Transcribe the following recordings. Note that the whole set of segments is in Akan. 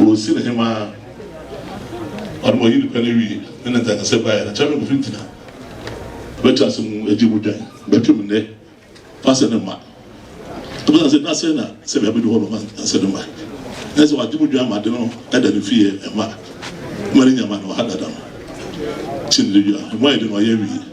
Wosin hemaa ɔno ma ɔyi ne pɛ no wie ne ne nkankasɛm baeɛ no, Kyɛrɛm fi ntina bɛtwe ase mu agye mu dwan bɛtwe mu nnɛ fa sɛ ne mma ɛbɛsan sɛ na sɛ na sɛ bɛabɛdu hɔ no ma sɛ ne mma ɛne sɛ wagye mu dwan ma ade no ɛda ne fie ɛma ma ne nyama no ɔha dada no kyɛ ne dwa ɛmu ayɛ de no ɔyɛ wie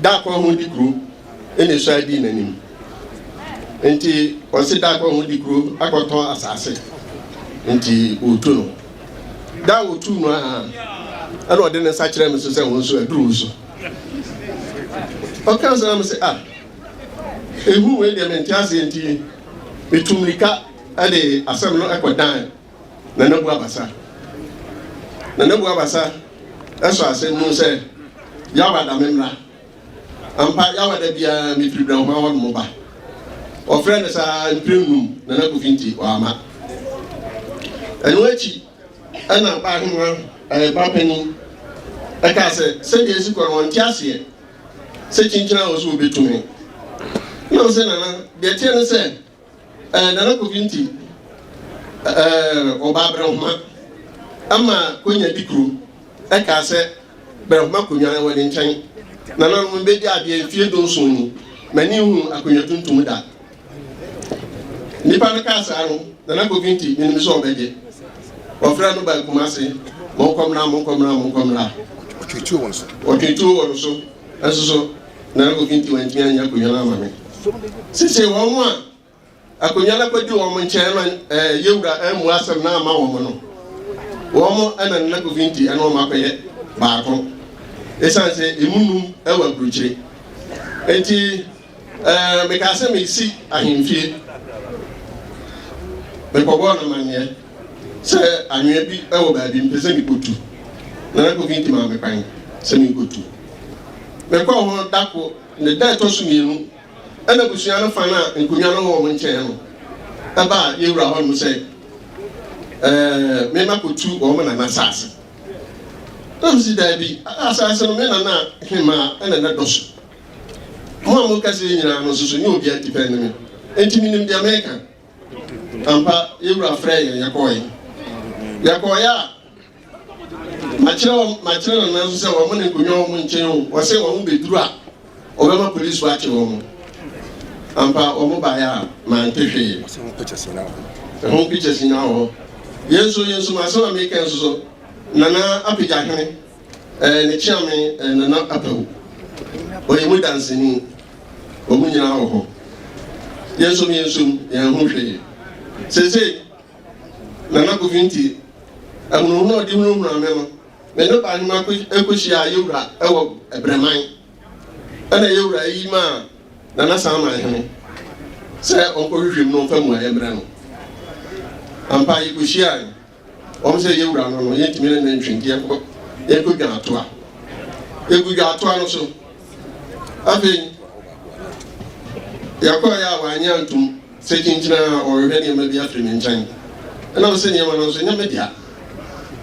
Da koro ho di kuro na esua dii n'anim. Nti ɔsi da koro ho di kuro akɔtɔn asase. Nti otu no. Da a otu no aha ɛna ɔde ne nsa kyerɛ me so sɛ wɔn nso aduru so. Ɔka nso na me sɛ ah ehu wei deɛ mente aseɛ nti metu mirika ɛde asɛm no ɛkɔ dan Nana Bu Abasa Nana Bu Abasa sɔ asɛm mu sɛ, Yawa da me mmra. Ampa, Yawa da biara me firi Brɛnhwa hɔ nom ba. Wɔfrɛɛ no saa mprɛ nnum, Nana Kofi nti wamma. Ɛno akyi ɛna ba ahema ɛyɛ ba panin ɛka sɛ sɛdeɛ esi kɔ no wɔn ti aseɛ sɛ kyinkyini a wɔso wɔbɛtu me na wɔn sɛ nana deɛ teɛ no sɛ Eh, Nana Kofi nti eh, ɔbaa Brɛhoma ama Konya di kuro ɛkaa sɛ Brɛhoma Konya ɛwɔ ne nkyɛn. Nananom mbɛdi adeɛ mfie dunson ni, m'ani nhu akonnwa tuntum da. Nipa no kaa saa no, Nana Kofi nti menim sɛ ɔbɛgye. Ɔfrɛ no baa Kumase, monkɔmmra, monkɔmmra, monkɔmmra. Ɔtwetuo wɔ no so. Ɔtwetuo wɔ no so, ɛnso so. na obi nti wantumi anyɛ akonnwa no ama me sesei wɔn a akonnwa no akɔdi wɔn nkyɛn ma ɛɛ yɛwura amu asɛm na ama wɔn no wɔn ɛna nna kofi nti ɛna wɔn akɔyɛ baako ɛsan sɛ emu num ɛwɔ aburukyire eti ɛɛ mekaa sɛ mesi ahemfie mekɔbɔɔ no amanneɛ Sɛ anwea bi wɔ baabi, mepɛ sɛ mikotu, na na Kofi nti ma me kwan sɛ minkotu. Mekɔɔ hɔ da koro, ne da a ɛtɔ so mmienu, ɛna abusua no fa no a nkonnwa no wɔ wɔn nkyɛn no ɛbaa yɛn wura hɔnom sɛ ɛɛ mema kotu wɔn nana asase. Na mesi daabi, asase no me nana hemaa ɛna na dɔ so. Mo a moka sɛ nyinaa no nso so nyɛ obiara tipɛ ne me, enti menim deɛ meka. Ampa, yɛn Wura frɛɛ yɛn, yɛkɔɔɛ. Yɛkɔɔɛ a, makyerɛ wɔn, makyerɛ Nana nso sɛ wɔn ne nkonnwa wɔn nkyɛn o, wɔsɛ wɔn bɛduru a, wɔbɛma polisifo akye wɔn. Ampa, wɔn baeɛ a, mante hwee. Ɛho pictures nyinaa wɔ hɔ. Ɛho pictures nyinaa wɔ hɔ. Yɛn nso, yɛn nso, asɛm a meka nso so, Nana apagya hene. Ɛɛ ne kyeame ɛɛ Nana Apawu. Ɔyɛ mu danseni. Wɔn nyinaa wɔ hɔ. Yɛnsom yɛnsom, yɛanhu hwee. Seesei, Nana Kofi nti, ahunahuna a ɔde hunahunaa me no, me ne Ɔbahema kɔ kɔhyiaa Yewura wɔ Brɛman. Ɛna Yewura yi maa Nana Saman Hene sɛ ɔnkɔhwehwɛ mu na ɔmfa mmuaeɛ mmrɛ no. Ampa, yɛkɔhyiae. Wɔn sɛ yɛn wura no no, yɛntumi ne no ntwe nti yɛnkɔ yɛnkɔ dwan atoa. Yɛgu dwan atoa no so. Afei yɛkɔɔ yɛ a wanyɛ antom sɛ kyinkyina a ɔrehwɛ nneɛma bi afiri ne nkyɛn. Ɛnam sɛ nneɛma no nso nyɛ me dea.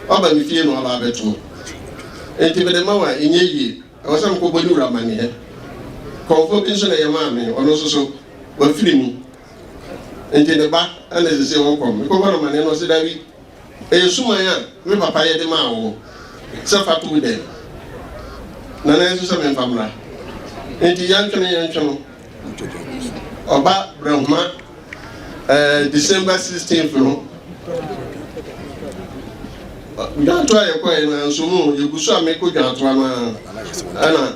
Waba me fie na waba abɛto. Enti mede ma wo a ɛnyɛ yie. Ɛwɔ sɛ mekɔbɔ ne wura amanneɛ. Kɔmfoɔ bi nso na yɛmaa me, ɔno nso so wafiri mu. Enti ne ba na ɛsɛ sɛ wɔkɔ hɔ. Mekɔbɔ no amanneɛ no, ɔse, Dabi, ɛyɛ suman a me papa yɛ de maa wo sɛ fa to wo dan mu, na na ɛsɛ sɛ memfa mmra. Enti yɛntwene yɛntwene no, ɔba Brahma eh, December 16th no, dwantoa a yɛkɔɛ no anso mu, yɛgu so a mekɔ dwantoa no a, ɛna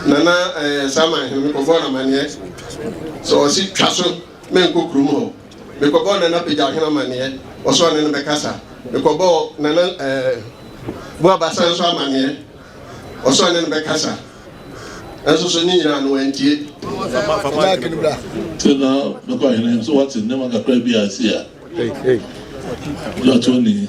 Nana ɛɛ saa man he, mekɔbɔɔ no amanneɛ sɛ ɔse twa so menkɔ kurom hɔ. Mekɔbɔɔ Nana Pagyaw he amanneɛ, ɔse ɔne no bɛkasa. Mekɔbɔɔ Nana ɛɛ Boabasa nso amanneɛ, ɔse ɔne no bɛkasa. Nso so ne nyinaa no wantie. Te na mekɔ ahene he, so wate nnoɔma kakra bi a asii a, John Tony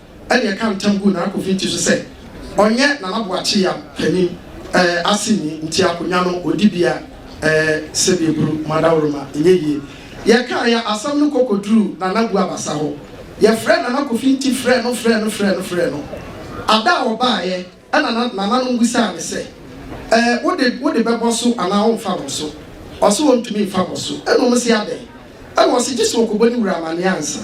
ɛnna ɛka ntam guu Nana Kofi ti so sɛ ɔnyɛ Nana Boakye Yam panin eh, aseni nti akonnwa no ɔdi bia eh, sɛdeɛ buru mu adaworoma ɛnyɛ yie. Yɛkaeɛ asɛm no kɔkɔduruu Nana Bu Abasa hɔ. Yɛfrɛɛ Nana Kofi Nti frɛɛ no frɛɛ no frɛɛ no frɛɛ no. Ada a ɔbaeɛ. Ɛnna na nananom bisaa no sɛ, Ɛɛ, wo de, wode bɛbɔ so anaa woremfa bɔ so? Ɔse ontumi mfa bɔ so. Ɛnna wɔse, Adɛn? Ɛnna ɔse, Gye sɛ ɔkɔbɔ ne wura amanneɛ ansa.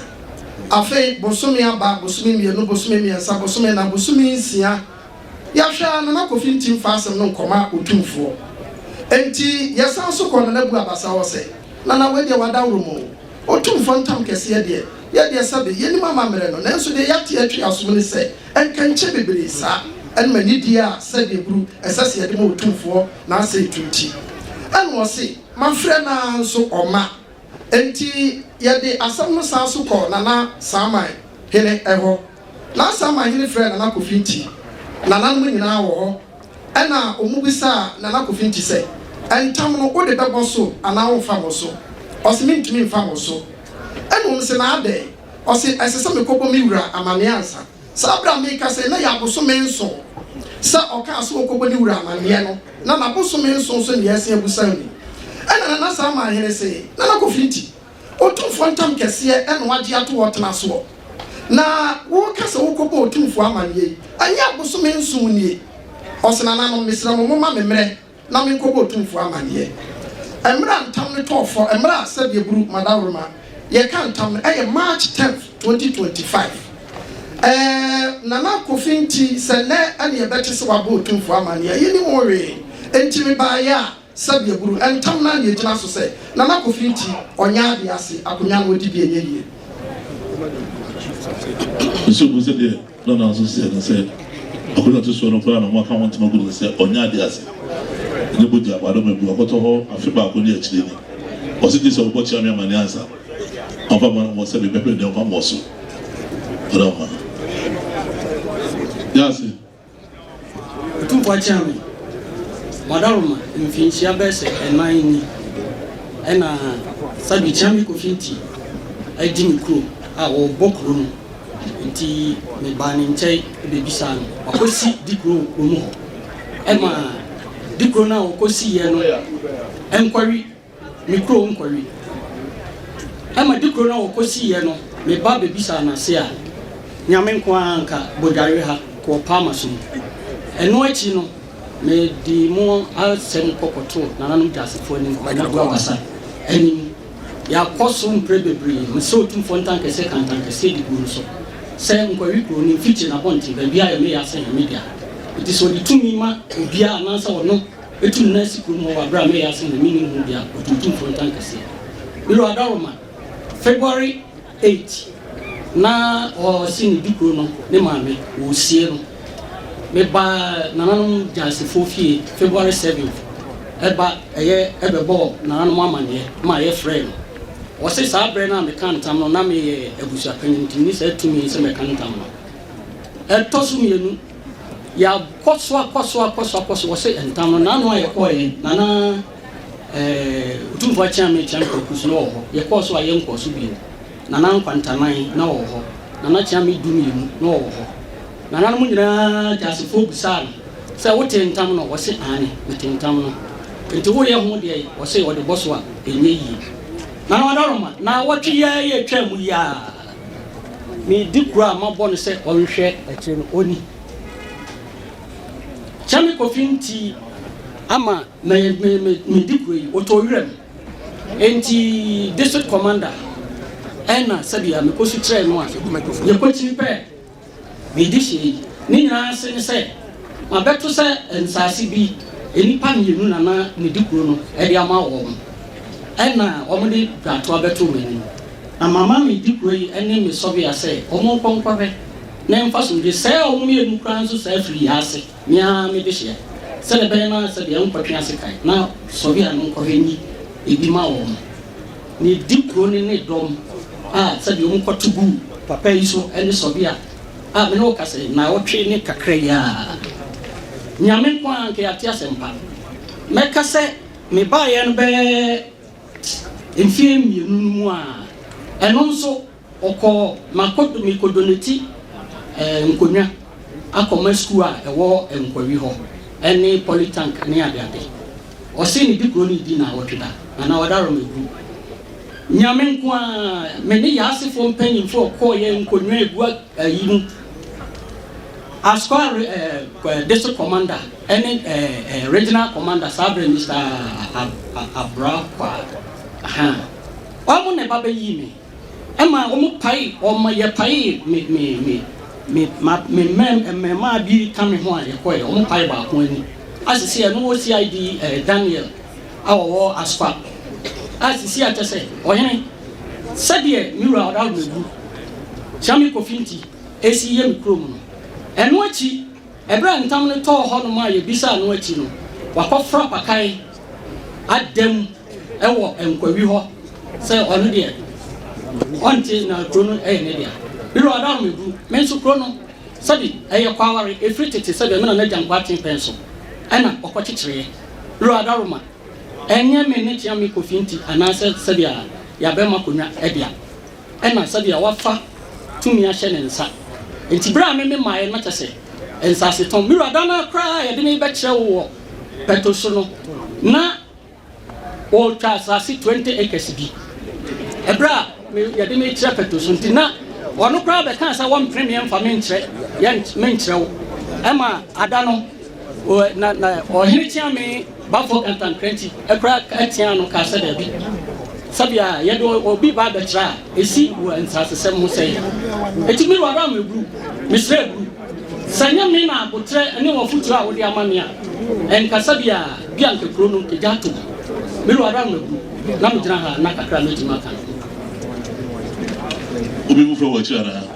Afei bosome aba, bosome mmienu, bosome mmiɛnsa, bosome nnan, bosome nsia, yɛahwɛ ara Nana Kofi nte mfa asɛm no nkɔma Otumfoɔ. Enti yɛsan so kɔɔ Nana Bu Abasa hɔ sɛ, Nana, wei deɛ wadaworo mu o. Otumfoɔ ntam kɛseɛ deɛ, yɛ deɛ sɛbe, yɛnnim amammerɛ no, nanso deɛ yɛate atwi asom ne sɛ, Nkɛnkyɛ bebree saa ne ma nidie a sɛdeɛ buru ɛsɛ se yɛde ma Otumfoɔ na asɛe to nti. Ɛna ɔse, Mafrɛ no ara nso ɔmma. Enti yɛde asɛm no san so kɔɔ Nana Saaman hene hɔ. Nana Saaman hene frɛɛ Nana Kofinti. Nananom nyinaa wɔ hɔ. Ɛna wɔbisaa Nana Kofinti sɛ, Ntam no wode bɛbɔ so anaa womfa mmɔ so? Ɔse, Mentumi mfa mmɔ so. Ɛna wɔse, Na adɛn? Ɔse, Ɛsɛ sɛ mekɔbɔ me wura amanneɛ ansa. Saa bere a mekasa yi, na ɛyɛ abosome nson sɛ ɔkaa sɛ ɔrekɔbɔ ne wura amanneɛ no, na n'abosome nson nso ne Yɛase Abusaw ni. Ɛnna Nana Saama Ahene se, Nana Kofi Nti, Otumfoɔ ntam kɛseɛ na wagye ato hɔ, tena soɔ. Na woreka sɛ worekɔbɔ Otumfoɔ amanneɛ yi, ɛnyɛ abosome nson nie? Ɔse, Nananom, mesrɛ mo, momma me mmerɛ. na menkɔbɔ otumfoɔ amanneɛ. Mmerɛ a ntam no tɔɔ fɔ, mmerɛ a sɛdeɛ buru madaworoma yɛka ntam no ɛyɛ March tenth, twenty twenty five. Ɛɛ Nana Kofi nti sɛ nnɛ ɛne ɛbɛte sɛ wabɔ otumfoɔ amanneɛ, yɛnnim ho hwee. Enti mebaeɛ a sɛdeɛ buru ntam no ara na ɛgyina so sɛ Nana Kofi nti ɔnyɛ adeɛ ase, akonnwa no ɔdi bi ɛnyɛ yie. Ɛna na nso sɛ ne sɛ ɔbɛ na ɛto soɔ no koraa na wɔn aka ho ntoma gu no no sɛ ɔnyɛ adeɛ ase ne bogya ma adɔma bi ɔkɔtɔ hɔ afe baako ne akyire ni ɔse gye sɛ ɔbɔ kyea me amaneɛ ansa ɔmfa ma no mo sɛ me bɛ bere deɛ ɔmfa mmɔ so ɔdɔ ma yɛ ase. Otumfo Akyame Badaruma mfinhyia bɛyɛ sɛ ɛnan ni ɛna Sadu Kyame Kofi Nti adi me kurom a ɔbɔ kuro no nti me baa ne nkyɛn bɛbisaa no wakɔ si dikuro wɔ kurom hɔ ɛma dikuro no a ɔkɔ siiɛ no ɛnkɔwe me kurom nkɔwe. Ɛma de kuro no a wɔkɔsiiɛ no, me ba bɛbisaa no ase a, Nyame nko ara nka Bodware ha wɔ Palmaso mu. Ɛno akyi no, mede mo asɛm kɔkɔtoo Nananom Gyasefoɔ anim, Kwanabu Abasa anim. Yɛakɔ so mprɛ bebree. Mesɛ Otumfoɔ ntankɛseɛ ka ntankɛseɛ de gu no so sɛ Nkɔwe kuro, ne mfikyi, n'abɔnten, baabiara yɛ me yɛ asɛ Nyame dea. Enti sɛ ɔde tumi ma obiara anaasɛ ɔno, Etum na esi kurom hɔ wɔ aber a meyɛ asen na minnyi hom bi a otuutu mfontan kɛse. Miro Adaroma, February eight, na ɔse ne di kor no ne maame wosie no. Mebaa nananom Gyaasefoɔ fie February seventh ba yɛ bɛbɔɔ nananom amanneɛ ma yɛ frɛɛ no. Ɔse saa berɛ no a mekaa ntam no na meyɛ abusuapanyin nti menni saa tumi sɛ mɛka ntam no. Ɛtɔ so mmienu. Yɛakɔ so akɔ so akɔ so akɔ so, wɔse ntam no n'ano a yɛkɔeɛ na na eh, Otumfoɔ Akyeame Kyeame Kwaku so na ɔwɔ hɔ. Yɛkɔɔ so a yɛnkɔɔ so bio. Nana Nkwantanan na ɔwɔ hɔ. Nana Kyeame du mmienu na ɔwɔ hɔ. Nananom nyinaa Gyasefoɔ bisaa no sɛ wotee ntam no? Ɔse aane, metee ntam no. Nti woyɛ ho deɛn? Ɔse ɔde bɔ so a ɛnyɛ yie. Nana Adaroma, naawɔtwe yi ara yɛtwaa mu yi ara. Me di kura a mabɔ no sɛ ɔnhwɛ akyire no ɔnni. Sɛ me kofi nti ama me me me me di kura yi ɔtɔ wira mu. Enti district commander ɛna sɛbi a me kɔ su kyerɛ no a yɛ kɔ kyini pɛ. Biribi hyɛ yi ne nyinaa ase ne sɛ mabɛto sɛ nsase bi nnipa mmienu na na medi kuro no de ama wɔn, ɛna wɔde dwatoa bɛtoo m'anim. Na mama me di kuro yi ne me sɔbea sɛ wɔnkɔ nkɔhwɛ na ɛmfa sumdie sɛe wɔn mmienu koraa nso saa afiri yi ase. Me ara me dehyeɛ. Sɛdeɛ ɛbɛyɛ na sɛ deɛ nkɔtwe ase kan na sɔhwɛ a no nkɔhwɛ nyi ebi ma wɔn. Na edi kuro no ne dɔm a sɛdeɛ wɔn kɔto gu papa yi so ne sɔhwɛ a a me ne wo ka sɛ naawɔtwe ne kakra yi ara. Nyame nko ara nka yɛate asɛm pa. Mɛka sɛ me baeɛ no bɛyɛ mfeɛ mmienu no mu a ɛno nso. Ɔkɔɔ Makodo Mikodoneti eh, Nkonwa akɔma sukuu a ɛwɔ Nkwawi hɔ ne Polytank ne adeade. Ɔse ne di kuro no di naawɔtwe da na na ɔda Rɔmɛgu. Nyame nko ara, me ne Yaasefoɔ mpanyimfoɔ ɔkɔɔ yɛ Nkonwa egu ayi mu as kɔa eh, District Commander ne eh, eh, Regional Commander saa berɛ Mister Abrakwa. Ahaa. Ɔmo na ɛba bɛyii me. Ɛma wɔpae wɔn, yɛpaee me, me, me, me, ma, me mmɛm, mmɛmmaa bi ka me ho a yɛkɔeɛ. Wɔpae baako ani. A sisi a ɛno wɔ CID eh, Daniel a ɔwɔ Aspa. A sisi a kyɛ sɛ, ɔhene, sɛdeɛ me wura ɔdaworo mɛgu, Kyame Kofi nti, ɛsi yɛ me kurom no. Ɛno akyi, Bere a ntam no tɔɔ hɔnom a yebisaa no akyi no, wakɔfra pakan ada mu wɔ nkwawi hɔ sɛ ɔno deɛ ɔnte na kuro no yɛ ne dea. Bere a ɔda ahomebu, me nso kuro no, sɛde ɛyɛ kɔ aware ɛfiri tete sɛdeɛ me na n'agya nkoatee pɛn so na ɔkɔkyekyereɛ. Bere a ɔda Roma, ɛnyɛ me ne Kyia-Miko fi nti anaasɛ sɛdeɛ yɛabɛm akonnwa dea. ɛna sɛdeɛ wafa tumi ahyɛ ne nsa. Enti berɛ a me memaeɛ no, na kyerɛ sɛ, nsasetɔn. Me wura, da no ara koraa a yɛde me rebɛkyerɛ wo wɔ pɛto so no, na wɔretwa asase twenty acres bi. Ɛberɛ a me, yɛde me rekyerɛ pɛto so nti, na ɔno koraa bɛkaa sɛ wɔmpene me mfa me nkyerɛ, yɛn, me nkyerɛ wo. Ɛmaa, ada no, ɔ, na, na ɔhene kyeame. Bamfoɔ Kantankrankyi kora ka teaa ano kaa sɛ daabi, sɛbea a yɛde obi ba abɛtra a esi wɔ nsasesɛm ho sɛe. Enti me wura Meburu, mesrɛ buru. Sɛ ɛnyɛ me na aboterɛ ne w'afotuo a wode ama me a, ɛnka sɛbea bi a anka kuro no gya ato mu. Me wura Meburu, na megyina ha na kakra a mɛtumi aka no. Obi mu frɛ wo akyiri anaa?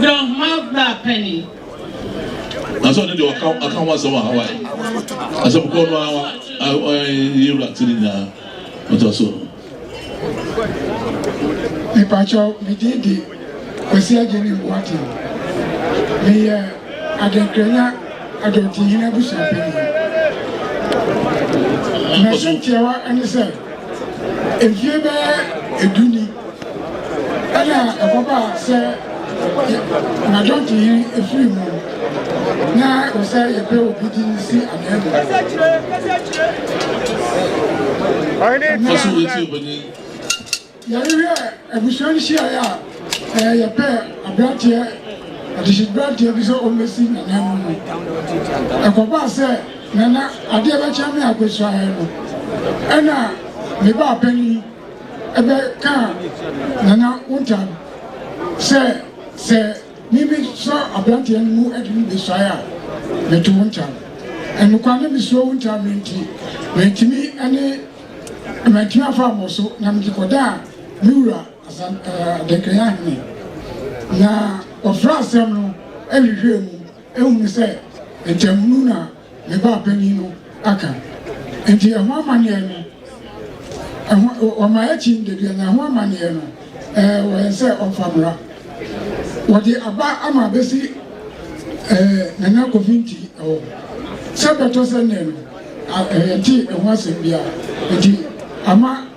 Dɛ ɔhoma bra pɛ ni. Nanso ɔno deɛ ɔka ɔka ho asɛm wɔ Hawaii. Asɛm kɔɔ no ara ɔyɛ ewura ti ne nyinaa ɔtɔ so. Mepakyɛw, me din de Kwasi Agyeni Boateng. Meyɛ Adenkranya Adɔntinhene abusua panyin. M'asɛm tiawa ne sɛ, mfie bɛyɛ du ni, Ɛna ɛkɔba sɛ anadwɔnto yi efiri mu na ɛwɔ sɛ yɛpɛ obi din si anwea mu. Faso wei ti ebɛnyi. Yɛrehwɛ abusua nhyiaeɛ a ɛɛ yɛpɛ aberanteɛ adehyedberanteɛ bi sɛ ɔmmɛsi nana mu mu. Ɛkɔbaa sɛ nana adeɛ bɛkyɛ me akɔsuaeɛ no ɛna me baa panin Ɛbɛ kaa Nana Wontan sɛ, Sɛ me me sɔ abranteɛ no mu de no besuae a, me to Wontan. Ɛnokwa ne me suro Wontan no nti, mantumi ne mantumi afa abɔ so na me de kɔ daa me wura Asan ɛɛ Adenkran Ahene. Na ɔfra asɛm no ɛhwehwɛɛ mu ɛhunu sɛ ntamunu na. Me ba panin no aka. Nti ɛho amanneɛ no, ɛho, wɔma akyin da biara, na ɛho amanneɛ no, ɛɛ, wɔ yɛn sɛ ɔmfa mmra. Wɔde aba ama abɛsi ɛɛ, Nana Kofi Nti hɔ. Sɛ bɛtɔ sɛ nnɛ no, a, yɛntee ɛho asɛm biara. Nti ama.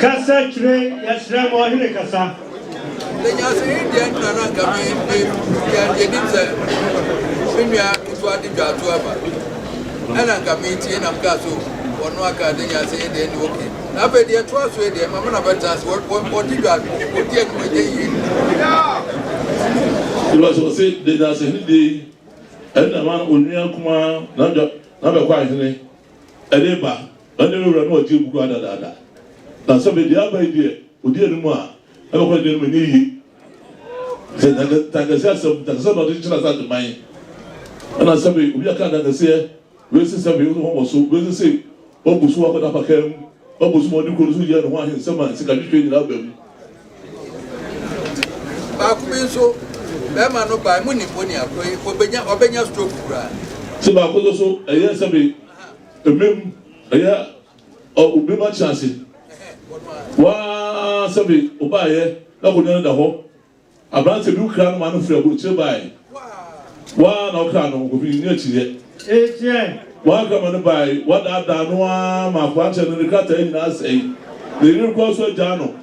Kasa kyerɛ yɛsrɛ ma ɔhene kasa. Sɛ nyansani deɛ nna na nka me me nua deɛ nim sɛ me nua nso ade dwa ato aba ɛna nka me tie nam kaa so wɔno aka de nyansani deɛ ne oke na afei deɛ ɛtoa so deɛ mama na bɛtena ase wɔde dwa wɔdi anim ɛnyɛ yie Ìwà sọ sẹ de nyansani deɛ yi ɛna ma onua kumaa na dwa na bɛkɔ ahene ɛde ba Ɛnde me wura no ɔgye agu koraa dadaada, na sɛ mede aba yi deɛ ɔdi anim a, ɛbɛkɔ ne deɛ anim ɛnyɛ yie. Sɛ Ntankɛseɛ asɛm, Ntankɛseɛ na ɔde kyekyere Asante man. Ɛna sɛbe obi aka Ntankɛseɛ, wei se sɛbe, wei se wɔmmɔ so, wei se sei, wabu so akɔda apakaa mu, wabu so ma ɔde kuro no so yɛ ne ho ahe nsɛm a sikadwetweɛ nyinaa ba mu. Baako bi nso, barima no bae, monim onii akoro yi, ɔbɛnya, ɔbɛnya stroke koraa. Se baako nso so, ɛyɛ sɛbe Emem ɛyɛ ɔ obi ma kye ase waa sɛ be o ba yɛ na akonwa no da hɔ abrante bi wo kra no ma no firi abrokyire bae waa na wo kra no okofi nni akyiriɛ waa kra ma no bae wa daa daa no aa ma akranteɛ no ne krataa nyinaa sɛe ne yere kura so agyaa no.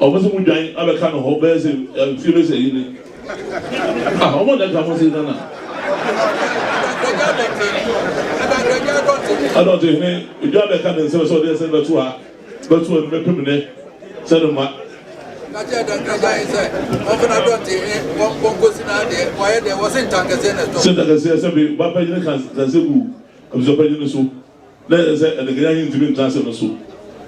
Ɔmo se mo dwan abɛka no hɔ bɛyɛ se mfie bɛ sɛ yi ni ah ɔmo na ɛka mo se nana adɔte hene edwa bɛka ne nsɛm sɛ ɔde ɛsɛ bɛto ha bɛto ɛno bɛpem ne sɛ no ma sɛ ntakɛseɛ sɛ be ba pɛgyene kansɛ gu abusua pɛgyene so Na ɛyɛ sɛ Anikanyan yi ntumi ntra ase no so.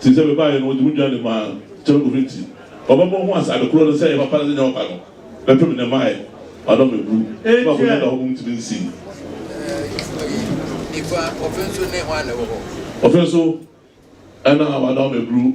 Te sɛ me baeɛ no, wɔde me dwan de maa Kyɛrɛkofo nti, ɔbɛbɔ ho ase ade koro no sɛ ɛyɛ papa ne sɛ ɛnyɛ papa no, bɛpem nnɛ mmaeɛ, madɔ me buru, na m'akonnwa da hɔ mmom ntumi nsi. Ɔfe nso, ɛna wadɔ me buru.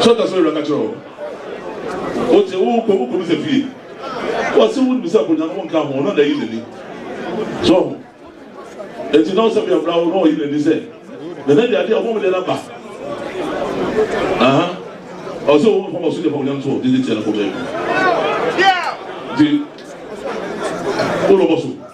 Sɔta sɔre bɛka kyerɛ wɔn. Ɔte wo kɔ wo kɔmisa fie. Wɔse wo nim sɛ akonnwa no nka ho na na ayi n'ani. So ho. Eti na ɔsɛ bia bra wo na ɔyi n'ani sɛ nana di adeɛ ɔmo ɔmo deɛ na ba. Aha. Ɔsɛ wo nfa ɔso deɛ fa onyam so didi tia na kɔmɛ. Di. Wo lɔbɔ so.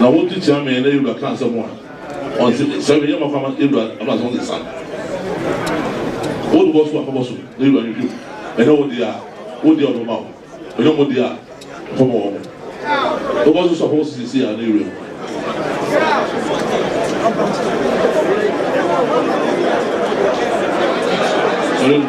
Na wo nso kyea me na yewura ka asɛm a ɔnse sɛ me yɛ ma fama yewura ama sɛ ɔnse san wo bɛbɔ so a bɛbɔ so na yewura no dwom ɛnyɛ wo deɛ a wo deɛ ɔbɛma wo ɛnyɛ mo deɛ a ɔbɛma wɔ mo bɛbɔ so so a bɛbɔ so sisi a na yewura mu. Sɔre.